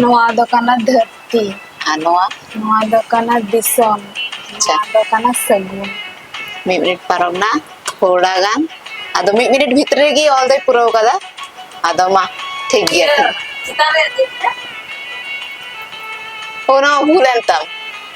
ᱱᱚᱣᱟ ᱫᱚ ᱠᱟᱱᱟ ᱫᱷᱟᱹᱨᱛᱤ ᱟᱨ ᱱᱚᱣᱟ ᱱᱚᱣᱟ ᱫᱚ ᱠᱟᱱᱟ ᱫᱤᱥᱚᱢ ᱟᱪᱪᱷᱟ ᱱᱚᱣᱟ ᱫᱚ ᱠᱟᱱᱟ ᱥᱟᱹᱜᱩᱱ ᱢᱤᱫ ᱢᱤᱱᱤᱴ ᱯᱟᱨᱚᱢ ᱱᱟ ᱛᱷᱚᱲᱟ ᱜᱟᱱ ᱟᱫᱚ ᱢᱤᱫ ᱢᱤᱱᱤᱴ ᱵᱷᱤᱛᱨᱤ ᱨᱮᱜᱮ ᱚᱞ ᱫᱚᱭ ᱯᱩᱨᱟᱹᱣ ᱠᱟᱫᱟ ᱟᱫᱚ ᱢᱟ ᱴᱷᱤᱠ ᱜᱮᱭᱟ ᱴᱷᱤᱠ ᱪᱮᱛᱟᱱ ᱨᱮ ᱫᱮᱡ ᱮᱱᱟ ᱚᱱᱟ ᱵᱷᱩᱞ ᱮᱱ ᱛᱟᱢ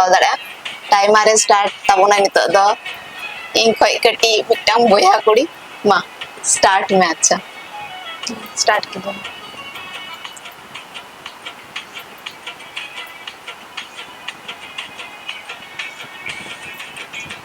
ᱚᱞ ᱫᱟᱲᱮᱭᱟᱜᱼᱟ ᱴᱟᱭᱢᱟᱨ ᱮ ᱥᱴᱟᱨᱴ ᱛᱟᱵᱚᱱᱟ ᱱᱤᱛᱚᱜ ᱫᱚ ᱤᱧ ᱠᱷᱚᱡ ᱠᱟᱹᱴᱤᱡ ᱢᱤᱫᱴᱟᱝ ᱵᱚᱭᱦᱟ ᱠᱩᱲᱤ ᱢᱟ ᱥᱴᱟᱨᱴ ᱢᱮ ᱟᱪᱪᱷᱟ ᱥᱴᱟᱨᱴ ᱠᱤᱫᱟᱹᱧ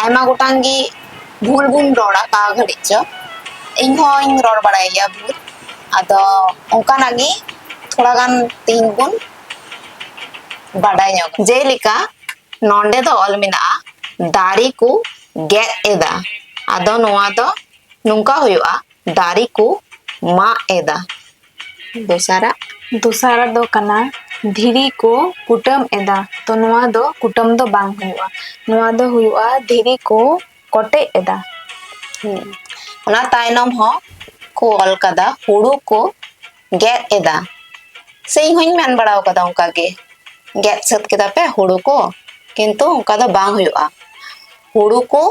ᱟᱭᱢᱟ ᱜᱚᱴᱟᱝ ᱜᱮ ᱵᱷᱩᱞ ᱵᱚᱱ ᱨᱚᱲᱟ ᱚᱠᱟ ᱜᱷᱟᱹᱲᱤᱡ ᱪᱚ ᱤᱧ ᱦᱚᱸᱧ ᱨᱚᱲ ᱵᱟᱲᱟᱭ ᱜᱮᱭᱟ ᱵᱷᱩᱞ ᱟᱫᱚ ᱚᱱᱠᱟᱱᱟᱜ ᱜᱮ ᱛᱷᱚᱲᱟ ᱜᱟᱱ ᱛᱮᱦᱮᱧ ᱵᱚᱱ ᱵᱟᱰᱟᱭ ᱧᱚᱜ ᱡᱮᱞᱮᱠᱟ ᱱᱚᱰᱮ ᱫᱚ ᱚᱞ ᱢᱮᱱᱟᱜᱼᱟ ᱫᱟᱨᱮ ᱠᱚ ᱜᱮᱫ ᱮᱫᱟ ᱟᱫᱚ ᱱᱚᱣᱟ ᱫᱚ ᱱᱚᱝᱠᱟ ᱦᱩᱭᱩᱜᱼᱟ ᱫᱟᱨᱮ ᱠᱚ ᱢᱟᱜ ᱮᱫᱟ ᱫᱚᱥᱟᱨᱟᱜ ᱫᱚᱥᱟᱨᱟᱜ ᱫᱚ ᱠᱟᱱᱟ ᱫᱷᱤᱨᱤ ᱠᱚ ᱠᱩᱴᱟᱹᱢ ᱮᱫᱟ ᱛᱚ ᱱᱚᱣᱟ ᱫᱚ ᱠᱩᱴᱟᱹᱢ ᱫᱚ ᱵᱟᱝ ᱦᱩᱭᱩᱜᱼᱟ ᱱᱚᱣᱟ ᱫᱚ ᱦᱩᱭᱩᱜᱼᱟ ᱫᱷᱤᱨᱤ ᱠᱚ ᱠᱚᱴᱮᱡ ᱮᱫᱟ ᱚᱱᱟ ᱛᱟᱭᱱᱚᱢ ᱦᱚᱸ ᱠᱚ ᱚᱞ ᱠᱟᱫᱟ ᱦᱩᱲᱩ ᱠᱚ ᱜᱮᱫ ᱮᱫᱟ ᱥᱮ ᱤᱧ ᱦᱚᱧ ᱢᱮᱱ ᱵᱟᱲᱟ ᱠᱟᱫᱟ ᱚᱱᱠᱟ ᱜᱮ ᱜᱮᱫ ᱥᱟᱹᱛ ᱠᱮᱫᱟ ᱯᱮ ᱦᱩᱲᱩ ᱠᱚ ᱠᱤᱱᱛᱩ ᱚᱱᱠᱟ ᱫᱚ ᱵᱟᱝ ᱦᱩᱭᱩᱜᱼᱟ ᱦᱩᱲᱩ ᱠᱚ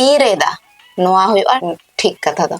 ᱤᱨ ᱮᱫᱟ ᱱᱚᱣᱟ ᱦᱩᱭᱩᱜᱼᱟ ᱴᱷᱤᱠ ᱠᱟᱛᱷᱟ ᱫᱚ